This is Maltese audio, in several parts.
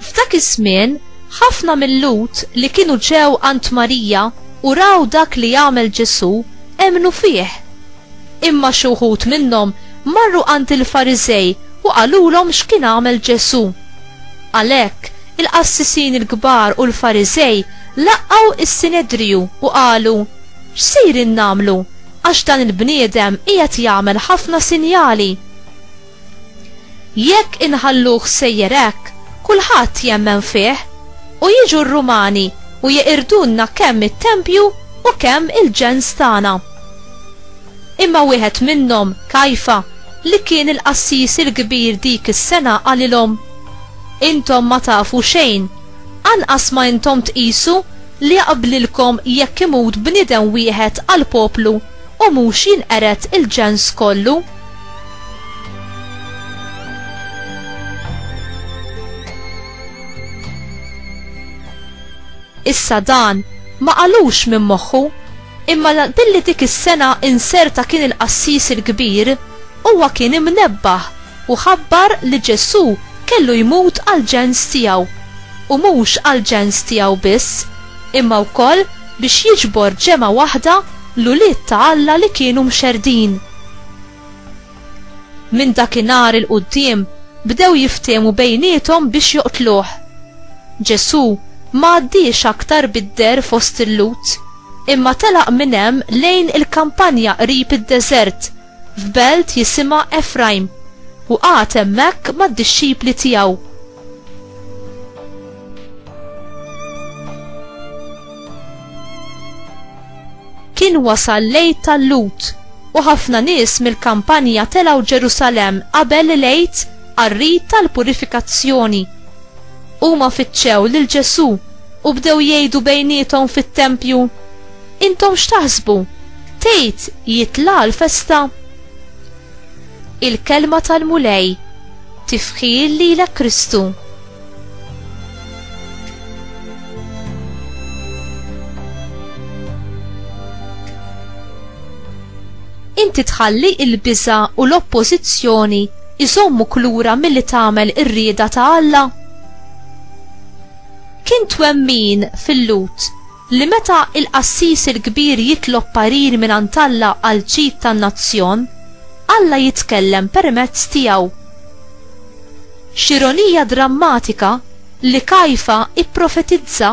F'dak iż-żmien, ħafna mill-Lhud li kienu ġew għand Marija u raw dak li għamel Ġesù emmnu fih. Imma xi wħud minnhom marru għand il-Fariżej u qalulhom x'kien għamel Ġesù. Għalhekk, il-qassisin il-kbar u l-Fariżej laqgħu s-Sinedriju u qalu, X'sejrin nagħmlu, għax dan il-bniedem qiegħed jagħmel ħafna sinjali? Jekk inħalluh sejjer hekk, kulħadd jemmen fih, u jiġu r-Rumani u jeqirdulna kemm it-tempju u kemm il-ġens tagħna. Imma wieħed minnhom, Kajfa, li kien il-qassis il-kbir dik is-sena qalilhom, Intom ma tafu xejn, anqas ma intom tqisu li jaqblilkom jekk imut bniedem wieħed għall-poplu u mhux jinqered il-ġens kollu? Issa dan ma qalux minn moħħu, imma billi dik is-sena inserta kien il-qassis il-kbir, huwa kien imnebbaħ u ħabbar li Ġesù kellu jmut għal ġens tiegħu, u mhux għal ġens tiegħu biss, imma wkoll biex jiġbor ġemgħa waħda l-ulied ta' Alla li kienu mxerrdin. Minn dakinhar 'il quddiem bdew jiftehmu bejniethom biex joqtluh. Ġesù ma għaddiex aktar bid-deher fost il-Lhud, imma telaq minn hemm lejn il-kampanja qrib id-deżert, f'belt jisimha Efrajm, u qagħad hemmhekk mad-dixxipli tiegħu. Kien wasal lejt tal-lut u ħafna nies mill-kampanja telgħu Ġerusalem qabel lejt qarrit tal-purifikazzjoni. Huma fittxew lil Ġesù u bdew jgħidu bejniethom fit-tempju, Intom x'taħsbu? Tgħid jitla' l-festa? Il-kelma tal-Mulej tifħil lilek Kristu. Inti tħalli il-biża u l-oppożizzjoni iżommu klura milli tagħmel ir-rieda ta' Alla? Kien twemmin fil-lut Li meta l-qassis il-kbir jitlob parir mingħand Alla għall-ġid tan-nazzjon, Alla jitkellem permezz tiegħu. X'ironija drammatika li Kajfa pprofetizza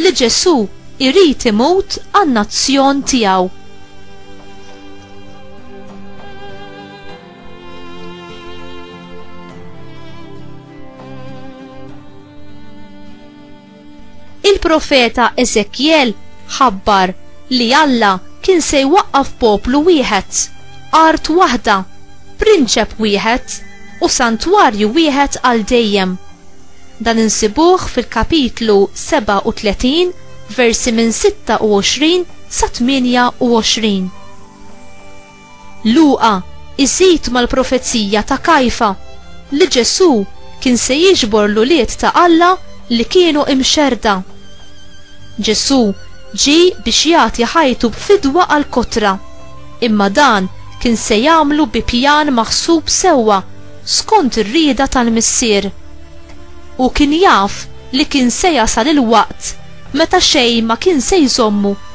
li Ġesù jrid imut għan-nazzjon tiegħu! Il-profeta Eżekjel ħabbar li Alla kien se jwaqqaf poplu wieħed, art waħda, prinċep wieħed, u santwarju wieħed għal dejjem. Dan insibuh fil-kapitlu 37, versi minn 26 sa 28. Luqa jżid mal-profezija ta' Kajfa li Ġesù kien se jiġbor l-ulied ta' Alla li kienu imxerrda. Ġesù ġie biex jagħti ħajtu b'fidwa għall-kotra, imma dan kien se jagħmlu bi pjan maħsub sewwa skont ir-rieda tal-Missier. Hu kien jaf li kien se jasal il-waqt meta xejn ma kien se jżommu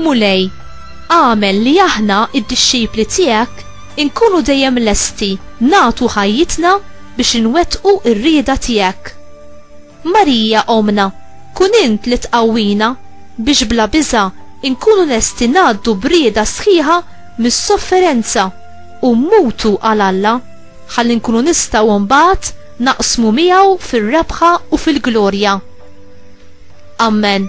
Mulej, agħmel li aħna, id-dixxipli tiegħek, inkunu dejjem lesti nagħtu ħajjitna biex inwettqu r-rieda tiegħek. Marija Ommna, kun int li tqawwina biex bla biża' inkunu lesti ngħaddu b'rieda sħiħa mis-sofferenza u mmutu għal Alla, ħalli nkunu nistgħu mbagħad naqsmu miegħu fir-rebħa u fil-glorja. Amen.